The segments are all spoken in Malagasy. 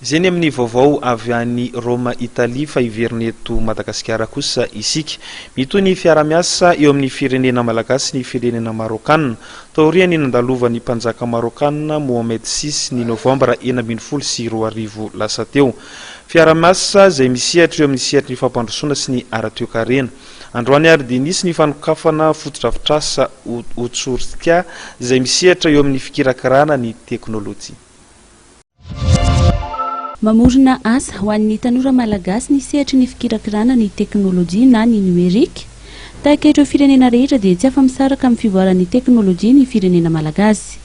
Izay ny amin'ny vaovao avy any Roma Italia fa hiverina eto Madagasikara kosa isika. Mitohy ny fiarahamiasa eo amin'ny firenena malagasy sy ny firenena Marôkana. Taorian'ny nandalovan'ny mpanjaka Marôkana Mohamed vi ny Novambra enina ambin'ny folo sy roa arivo lasa teo. Fiarahamiasa izay misehatra eo amin'ny sehatry ny fampandrosoana sy ny ara-toekarena. Androany ary dia nisy ny fanokafana fotodrafitrasa Otsurtia izay misehatra eo amin'ny fikirakirana ny teknolojia. Mamorona asa ho an'ny tanora malagasy ny sehatry ny fikirakirana ny teknolojia na ny numerique. Tahaka ireo firenena rehetra dia tsy afa-misaraka amin'ny fivoaran'ny teknolojia ny firenena malagasy.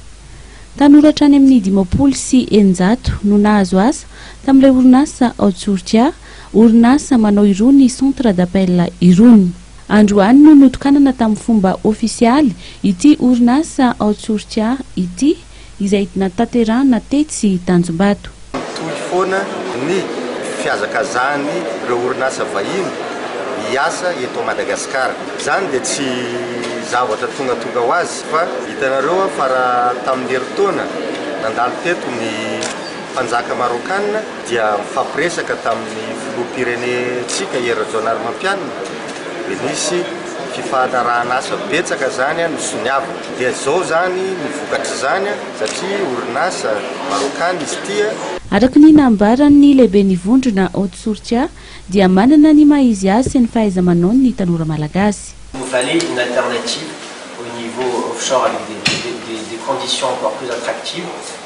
Tanora hatrany amin'ny dimampolo sy eninjato no nahazo asa tamin'ilay orinasa ao Tsorika, orinasa manao irony centre d'appel irony. Androany no notokanana tamin'ny fomba ofisialy ity orinasa ao Tsorika ity. izay natanterahana tetsy Tanjombato. Mitohy foana ny fihazakazahan'ireo orinasa vahiny hiasa eto Madagasikara. Izany dia tsy zavatra tongatonga ho azy fa hitanareo aho fa raha tamin'ny herintaona nandalo teto ny mpanjaka Marôkana dia nifampiresaka tamin'ny filoham-pirenentsika Hery Rajaonarimampianina dia nisy fifanarahan'asa betsaka izany no soniaviny. Dia zao zany ny vokatr'izany satria orinasa Marokana izy ity. Araka ny nambaran'ny lehiben'ny vondrona Haute Sourca dia manana ny maha izy azy sy ny fahaiza-manaony ny tanora malagasy. Vous valez une alternative au niveau offshore avec des conditions encore plus attractives.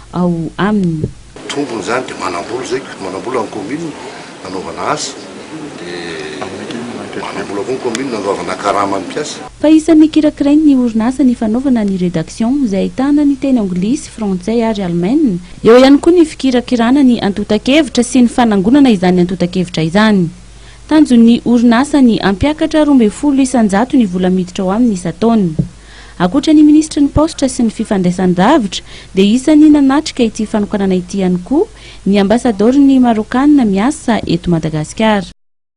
ao aminy. Tombony izany dia manam-bola izay, manam-bola ny commune nanaovana asa, dia manam-bola koa ny commune nandoavana karama ny mpiasa. Fa isan'ny kirakirain'ny orinasa ny fanaovana ny rédaction izay ahitana ny teny anglisy, frantsay ary alemaina, eo ihany koa ny fikirakirana ny antontan-kevitra sy ny fanangonana izany antontan-kevitra izany. Tanjon'ny orinasa ny hampiakatra roa ambin'ny folo isan-jato ny vola miditra ao aminy isan-taona. Ankoatra ny minisitry ny Paositra sy ny Fifandraisan-davitra dia isan'ny nanatrika ity fanokanana ity ihany koa ny ambasadaoron'ny Marôkana miasa eto Madagasikara.